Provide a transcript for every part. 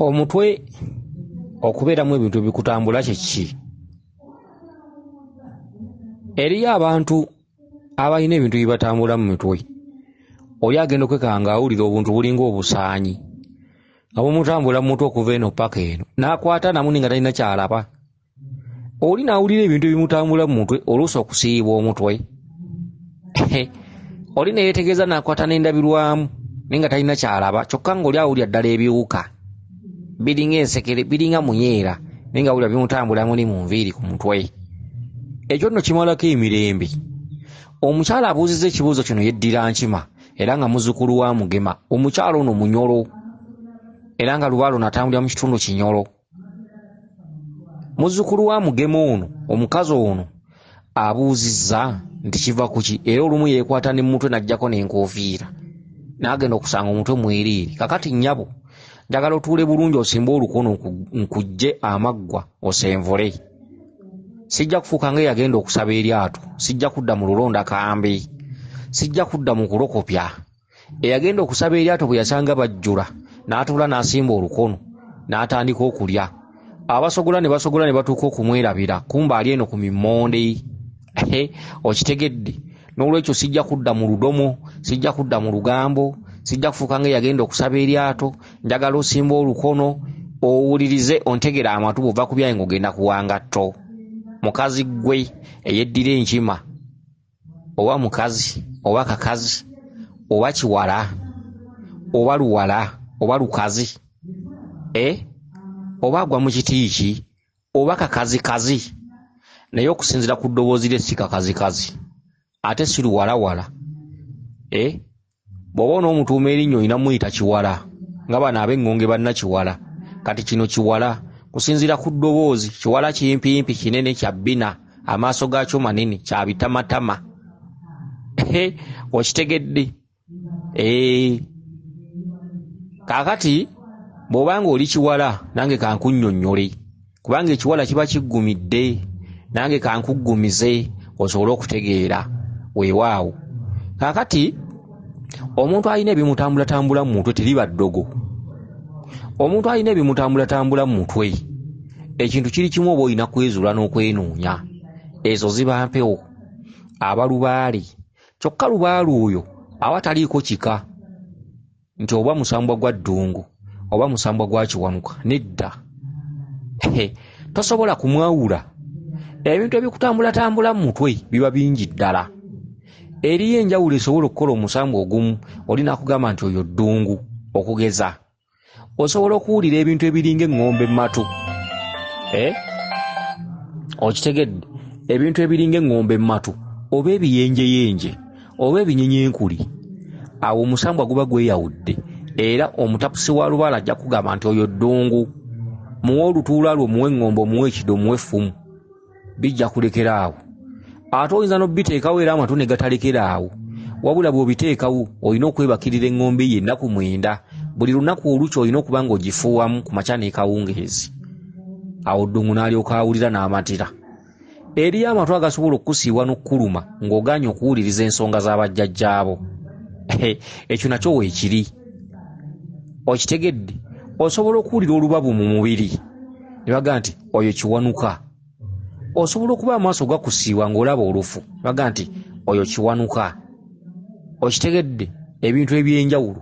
omutwe okubeeramu ebintu ebikutambula kyeki eriyo abantu abalina ebintu bibatambula mu mitwe oli agenda okwekanga awulira obuntu bulinga obusaanyi nga bumutambula mu mutwe okuva eno paka eno nakwata namu ninga talina kyalaba oli n'awulira ebintu ebimutambula mu mutwe oluusi okusiiyibwa omutwe oli ne yeetegeeza n'akwata n'endabirwamu naye nga talina ky'alaba kyokka ng'oli awulira ddala ebiwuka biringa ensekere biringa munyeera naye nga awulira bimutambula muli mu nviiri ku mutwe ekyo nno kimalako emirembe omukyala abuuzizza ekibuuzo kino yeddira nkima era nga muzukulu wa mugema omukyala ono munyolo era nga lubaalo natambulira mu kitundu kinyolo muzzukulu wa mugema ono omukazi ono abuuzizza nti kiva kuki era olumu yeekwata ne mumutwe n'ajjako n'enkofiira n'agenda okusanga omutwe mwereere kakati nnyabo njagala otuule bulungi osimbe olukono nkujje amaggwa osenvule sijja kufuuka nga eyagenda okusaba eryato sijja kudda mu lulonda kambi sijja kudda mu kulokopya eyagenda okusaba eryato bwe yasanga bajjula n'atuula n'asimba olukono n'atandika okulya abasogola ne basogola ne batuuka okumwerabira kumba ali eno ku mimmonde okitegedde n'olwekyo sijja kudda mu ludomo sijja kudda mu lugambo sijja kufuuka nga eyagenda okusaba eryato njagala osimba olukono owulirize ontegera amatu bwova ku byayi ngaogenda kuwangatto mukazi ggwe eyeddira enkima oba mukazi oba kakazi oba kiwala oba luwala oba lukazi e oba agwa mu kiti ki oba kakazikazi naye okusinzira ku ddoboozi lye si kakazikazi ate si luwalawala e bw'oba onoomutuuma erinnya olina muyita kiwala nga bano ab'eŋŋonge banna kiwala kati kino kiwala kusinziira ku ddoboozi kiwala kimpimpi kinene kya bbina amaaso gaakyo manene kya bitamatama okitegedde eh. kaakati bw'oba nga oli kiwala nange kankunnyonnyole kubanga ekiwala kiba kiggumidde nange kankuggumize osobole okutegeera weewaawo kakati omuntu alina ebimutambulatambula mu mutwe teriba ddogo omuntu alina ebimutambulatambula mu mutwe ekintu kiri kimu oba olina kwezuula n'okwenoonya ezo ziba mpewo aba lubaale kyokka lubaale oyo aba taliiko kika nti oba musambwa gwa ddungu oba musambwa gwa kiwanuka nedda tosobola kumwawula ebintu ebikutambulatambula mu mutwe biba bingi ddala eriyo enjawulo esobola okukola omusambu ogumu oli nakugamba nti oyo ddungu okugeza osobola okuwulira ebintu ebiringa eŋŋombe mumatu eh? okitegedde ebintu ebiringa eŋŋombe mumatu oba ebiyenjeyenje oba ebinyinyinkuli awo omusambwa guba gweyawudde era omutapusi wa lubaale ajja kugamba nti oyo ddungu muwe olutuula lwo muwe eŋŋombo muwe ekido muwe effumu bijja kulekera awo ate oyinza n'obiteekawo era amatu ne gatalekera awo wabula bw'obiteekawo olina okwebakirira eŋŋombo eyo ennaku mwenda buli lunaku olukya olina okuba ng'ogifuuwamu ku makya n'ekawungeezi awo ddungu n'alyoka awulira n'amatira Eriyo amatu agasobola okukusiiwa n'okukuluma ng'ogaanye okuwuliriza ensonga za bajjajjaabo. Ekyo nakyo weekiri. Okitegedde? Osobola okuwulira olubabu mu mubiri ne bagamba nti oyo Kiwanuka. Osobola okuba amaaso gakusiiwa ng'olaba olufu ne bagamba nti oyo Kiwanuka. okitegedde ebintu ebyenjawulo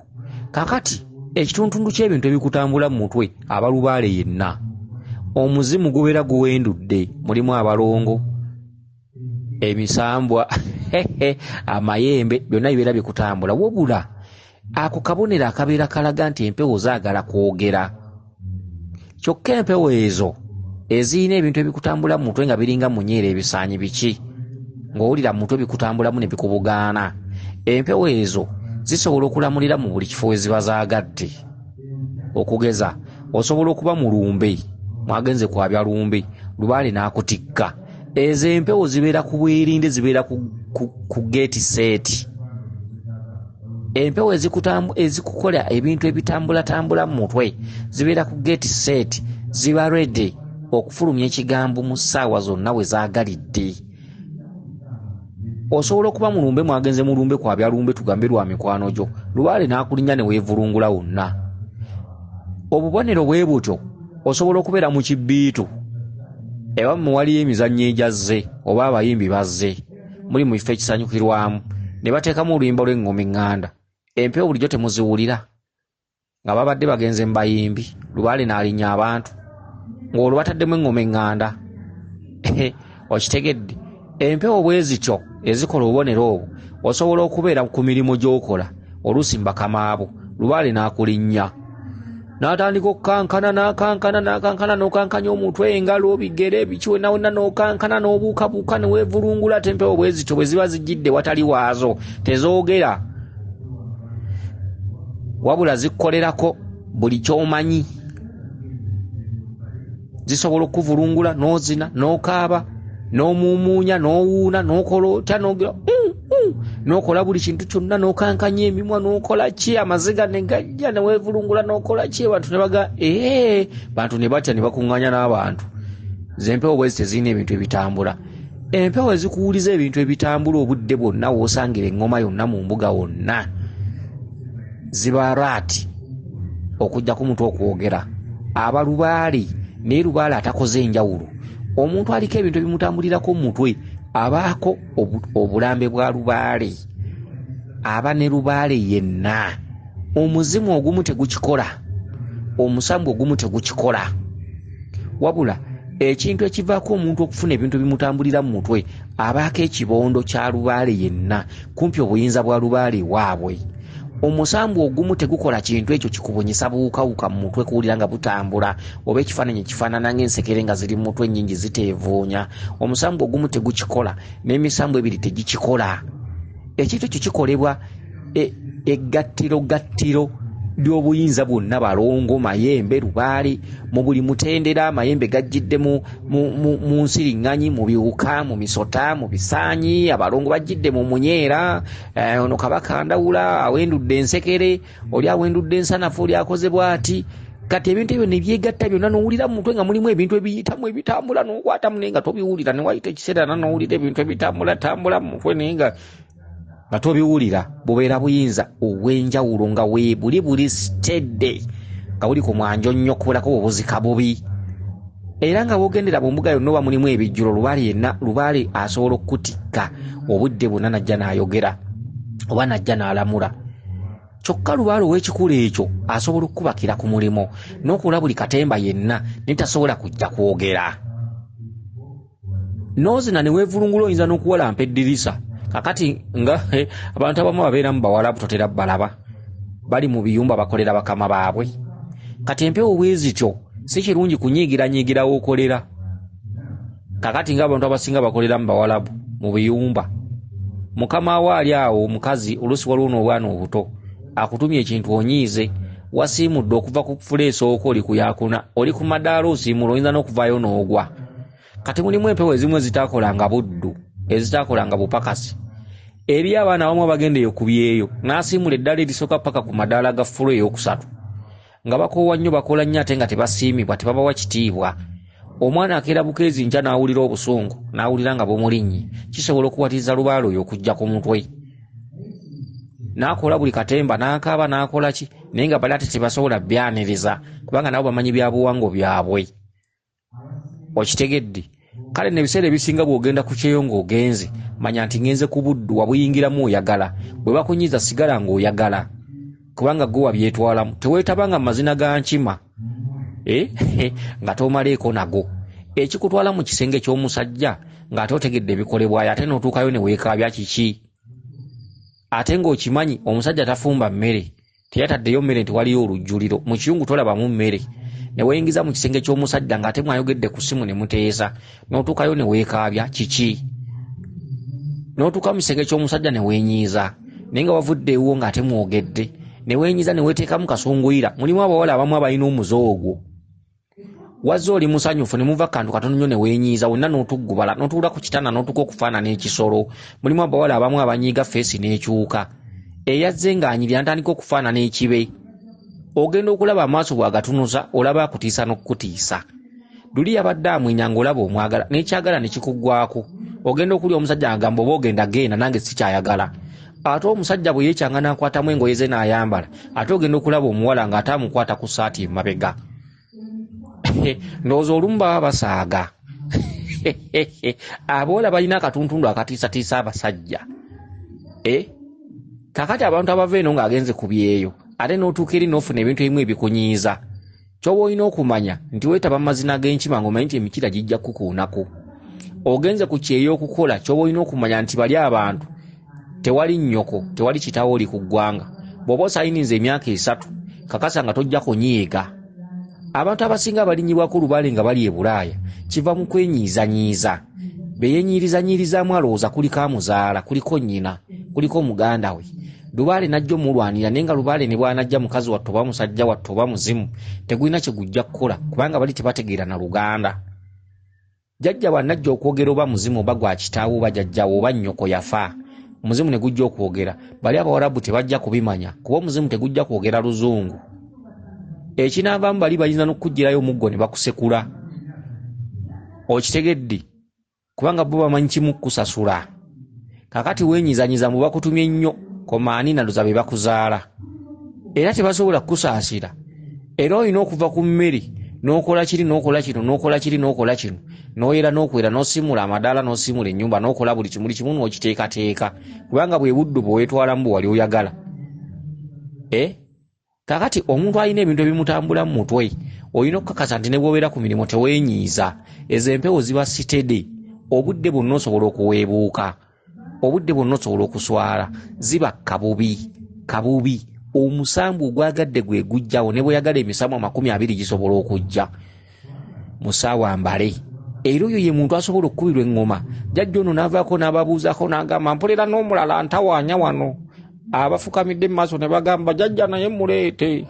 kakati ekituntundu ky'ebintu ebikutambula mu mutwe abalubaale yenna omuzimu gubeera guwendudde mulimu abalongo emisambwa amayembe byonna bibeera bikutambula wabula ako kabonero akabeera kalaga nti empewo zaagala kwogera kyokka empewo ezo ezirina ebintu ebikutambula mu mutwe nga biringa munyeera ebisaanyi biki ng'owulira mu mutwe bikutambulamu ne bikubugaana empewo ezo zisobola okulamulira mu buli kifo we ziba zaagadde okugeza osobola okuba mu lumbe mwagenze kwabya lumbe lubaale n'akutikka ezo empewo zibeera ku bwerinde zibeera ku, ku, ku gate set empewo ezikukola ebintu ebitambulatambula mu mutwe zibeera ku gate set ziba redi okufulumya ekigambo mu ssaawa zonna we zaagalidde osobola okuba mulumbe mwagenze mulumbe kwabya lumbe tugambe lwa mikwano gyo lubaale n'akulinya ne weevulungula wonna obubonero bwe butyo osobola okubeera mu kibbiitu ewammwe waliyo emizannyo egyazze oba abayimbi bazze muli mu bifo ekisanyukirwamu ne bateekamu oluyimba lw'eng'oma eŋŋanda empewo bulijjo temuziwulira nga babadde bagenze mu bayimbi lubaale n'alinnya abantu ng'olwo bataddemu eŋŋoma eŋŋanda okitegedde empewo bwe zityo ezikola obubonero obwo osobola okubeera ku mirimu gy'okola oluusi mbakamaabo lubaale n'akulinnya n'atandika okukankana n'akankana n'akankana n'okankanya omutwe engalo obigere biki wena wena n'okankana n'obuukabuuka ne weevulungula ate empewo bwe zityo bwe ziba zijjidde watali waazo tezoogera wabula zikkolerako buli kyomanyi zisobola okukuvulungula nozina nokaaba nomumuunya nowuuna nokola otya nogira mm, mm, nokola buli kintu kyonna nokankanya emimwa nokola ki amaziga negajja newevulungula nokola ki abantu nebaga ee bantu nebatya nebakuŋŋanya n'abantu zempewo bwezi tezirina ebintu ebitambula empewo ezikuwuliza ebintu ebitambula obudde bwonna wosangire eŋŋoma yonna mu mbuga wonna ziba raati okujjako omuntu okwogera aba lubaale naye lubaale atakoze enjawulo omuntu aliko ebintu ebimutambulirako mu mutwe abaako obulambe bwa lubaale aba ne lubaale yenna omuzimu ogumu tegukikola omusambu ogumu tegukikola wabula ekintu ekivaako omuntu okufuna ebintu bimutambulira mu mutwe abaako ekibondo kya lubaale yenna kumpi obuyinza bwa lubaale waabwe omusambwa ogumu tegukola kintu ekyo kikubunyisa buwukawuka mu mutwe kuwulira nga butambula oba ekifaananyi ekifaanana ngaensekere nga ziri mu mutwe ennyingi ziteevuunya omusambwa ogumu tegukikola n'emisambwa ebiri tegikikola ekintu ekyo kikolebwa e, eggattiro gattiro ly'obuyinza bwonna balongo mayembe lubaale mu buli mutendera amayembe gajjidde mu nsiriŋŋanyi mu biwuka mu misota mu bisaanyi abalongo bajjidde mu munyeera Eh, ono kabaka ndawula awendudde ensekere oli awendudde ensanafu oli akoze bwati kati ebintu ebyo nebyegatta byonna nowulira mumutwe nga mulimu ebintu ebiyitamu ebitambula nokwatamu naye nga tobiwulira newayita ekiseera na nowulira ebintu ebitambula tambula mumutwe naye nga nga tobiwulira bubeera buyinza obwenjawulo nga webuli buli stedde nga buli ku mwanjo nnyo kubulako bwebuzika bubi era nga wogendera mu mbuga yonna oba mulimu ebijjulo lubaale yenna lubaale asobola okukutikka obudde bwonna najja n'ayogera oba najja n'alamula kyokka lubaale ow'ekikulu ekyo asobola okukubakira ku mulimu n'okuula buli katemba yenna naye tasobola kujja kwogera nozina newevulungula oyinza nokuwalampa eddirisa kakati nga eh, abantu abamu babeera mu bawalabu totera balaba bali mu biyumba bakolera bakama baabwe kati empewo bwezityo si kirungi kunyiigiranyiigirawo okolera kakati nga abantu abasinga bakolera mu bawalabu mu biyumba mukama wo ali awo omukazi oluusi waliwo n'obwana obuto akutumye ekintu onyiize wasiimudde okuva ku fuleesi owoko oli kuyakuna oli ku madaala osiimula oyinza n'okuvaayo n'ogwa kati mulimu empewo ezimu ezitaakolanga buddu ezitaakolanga bupakasi eri abaana abamu abagendeyo ku byeyo n'asiimula eddala erisooka paka ku madaala ga fulu ey'okusatu nga bakoowa nnyo bakola nnyo ate nga tebasiimibwa tebabawa kitiibwa omwana akeera bukeezi nkya n'awulira obusungu n'awulira nga bumulinnyi kisobola okuwatiriza lubaala oyo okujja ku mutwe n'akola buli katemba n'akaaba n'akola ki naye nga bali ate tebasobola byaniriza kubanga nabo bamanyi byabuwango byabwe okitegedde kale nebiseera ebisinga bwogenda ku kyeyo ng'ogenze manya nti ngenze ku buddu wabuyingiramu oyagala bwe bakunyiza sigala ng'oyagala kubanga gwe wabyetwalamu teweetaba nga mazina ga nkima eh, nga tomaleeko nago ekikutwala mu kisenge ky'omusajja ng'ate otegedde ebikolebwayo ate n'otuukayo ne weekaabya kiki ate ng'okimanyi omusajja tafumba mmere teyataddeyo mmere nti waliyo olujjuliro mu kiyungu tolabamu mmere ne weyingiza mu kisenge ky'omusajja ng'ate mwayogedde ku ssimu ne muteesa n'otuukayo ne weekaabya kiki n'otuuka mu kisenge ky'omusajja ne weenyiiza naye nga wavudde ewuwo ng'ate mwogedde ne weenyiiza ne weeteekamu kasunguyira mulimu abawala abamu abalina omuze ogwo wazze oli musanyufu ne muva kantu katono nnyo ne weenyiiza wonna n'otuggubala n'otuula ku kitanda n'otuuka okufaanana ekisolo mulimu abawala abamu abanyiiga feesi n'ekyuka eyazze ng'anyirira ntandika okufaanana ekibe ogenda okulaba amaaso bw'agatunuza olaba akutiisa n'okukutiisa luli yabadde amwenya ng'olaba omwagala n'ekyagala ne kikuggwako ogenda okulya omusajja agamba oba ogenda genda nange sikyayagala ate omusajja bwe yekyanga n'akwatamu engoye ze n'ayambala ate ogenda okulaba omuwala ng'ate amukwata ku saati emabega ndowooza olumu baba basaaga aboola balina akatuntundu akatiisatiisa abasajja eh? kakati abantu abava eno ng'agenze ku byeyo ate n'otuuka eri n'ofuna ebintu ebimu ebikunyiiza Kyoba olina okumanya nti wetaba mazina g'enkima ng'omanyi nti emikira gijja kukuunako. Ogenze ku kyeyo okukola kyoba olina okumanya nti bali abantu tewali nnyoko tewali kitawo oli ku ggwanga. Bw'oba osayininze emyaka esatu kakasa nga tojja kunyiiga. Abantu abasinga abalinyibwako lubaale nga bali e Bulaaya kiva mu kwenyiizanyiiza. Be yenyiirizanyiirizaamu alowooza kuliko amuzaala, kuliko nnyina, kuliko muganda we. lubaale najja omulwanira naye nga lubaale ne bwanajja mukazi wattu oba musajja wattu oba muzimu tegulina kye gujja kukola kubanga bali tebategeera na luganda jajja bwanajja okwogera oba muzimu oba gwa kitaawo oba jajjawo oba nnyoko yafa omuzimu ne gujja okwogera bali abawarabu tebajja kubimanya kuba omuzimu tegujja kwogera luzungu ekinaavaamu bali bayinza n'okukugirayo omuggo ne bakusekula okitegedde kubanga bo bamanyi kimu kukusasula kakati wenyizanyiza mbu bakutumye nnyo komaani naluza be bakuzaala era tebasobola kukusaasira era olina okuva ku mmere n'okola kiri n'okola kino n'okola kiri n'okola kino n'oyera n'okwera n'osimula amadaala n'osimula ennyumba n'okola buli kimuli kimu n'okiteekateeka kubanga bwe buddo bwe weetwalamu bwe wali oyagala eh? kakati omuntu alina ebintu ebimutambula mu mutwe olina okukakasa nti ne bwobeera ku mirimu teweenyiiza ezo empewo ziba sitede obudde bwonna osobola okuweebuuka obudde bwonna osobola okuswala ziba kabubi kabubi omusambu ogwagadde gwe gujjawo ne bweyagala emisamu amakumi abiri gisobola okujja musaawa mbale era oyo ye muntu asobola okukubirwa eŋŋoma jajja ono n'avaako n'ababuuzako n'agamba mpulira n'omulala ntawaanya wano abafukamidde mu maaso ne bagamba jajja naye muleete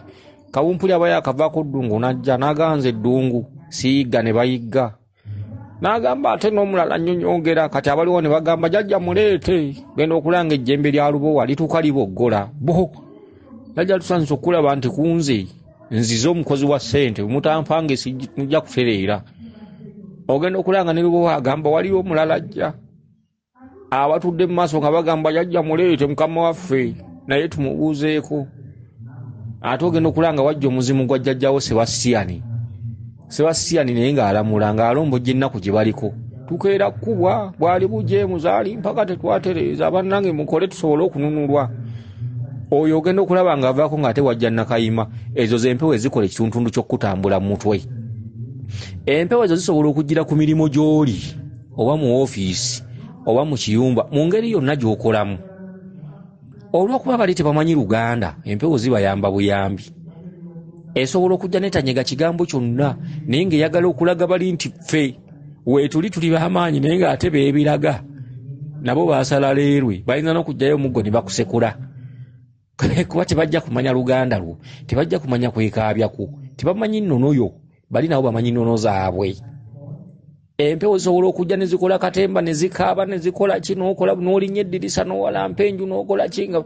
kawumpuli aba yakavaako ddungu n'ajja n'aganza eddungu siyigga ne bayigga n'agamba ate n'omulala nnyonyongera kati abaliwo ne bagamba jajja muleete genda okulanga ejjembe lya lubowa lituuka liboggola bo jajja tusanyusa okulaba nti kunze nzize omukozi wa sente mutampange sijja kutereera ogenda okulanga ne lubowa agamba waliwo omulala ajja abatudde mu maaso nga bagamba yajja muleete mukama waffe naye tumubuuzeeko ate ogenda okulanga wajja omuzimu gwa jjajjawo sebasiyani sebasiyani naye ng'alamula ng'alombojja ennaku gye baliko tukeera kukubwa bwali bujeemuzaali mpaka tetwatereeza bannange mukole tusobole okununulwa oyo ogenda okulaba ng'avaako ng'ate wajja nakayima ezo z'empewo ezikola ekituntundu ky'okukutambula mu mutwe empewo ezo zisobola okugira ku mirimu gy'oli oba mu ofiisi oba mu kiyumba mu ngeri yonna gy'okolamu olwokuba bali tebamanyi luganda empewo zibayamba buyambi esobola okujja netanyega kigambo kyonna naye nga eyagala okulaga bali nti ffe wetuli tuli bamaanyi naye nga ate bebiraga nabo basala leerwe bayinza nokujjayo omuggo ne bakusekula kuba tebajja kumanya luganda lwo tebajja kumanya kwekaabyaku tebamanyi nnono yo bali nabo bamanyi nnono zaabwe empewo zisobola okujja nezikola katemba nezikaaba nezikola ki nokola nolinya eddirisa nowalampa enju nokola ki nga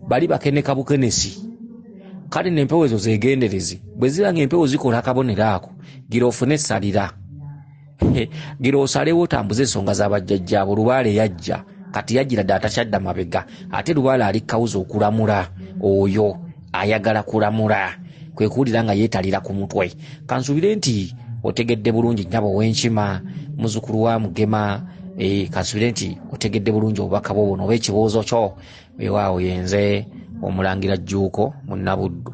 bali bakeneka bukenesi kale nempewo ezo zegenderezi bwe ziba nga empewo zikola akabonero ako gira ofune esalira gira osalewo otambuze ensonga zabajjajjaabo lubaale yajja kati yajjira dde atakyadda mabega ate lubaale ali kawuza okulamula oyo ayagala kulamula kwe kuwulira nga yeetalira ku mutwe kansuubire nti otegedde bulungi nyabo ow'enkima muzukulu wa mugema eh, kansuubire nti otegedde bulungi obubaka bwo buno oba ekibuuzo kyo ewaawo yenze omulangira jjuuko munnabuddu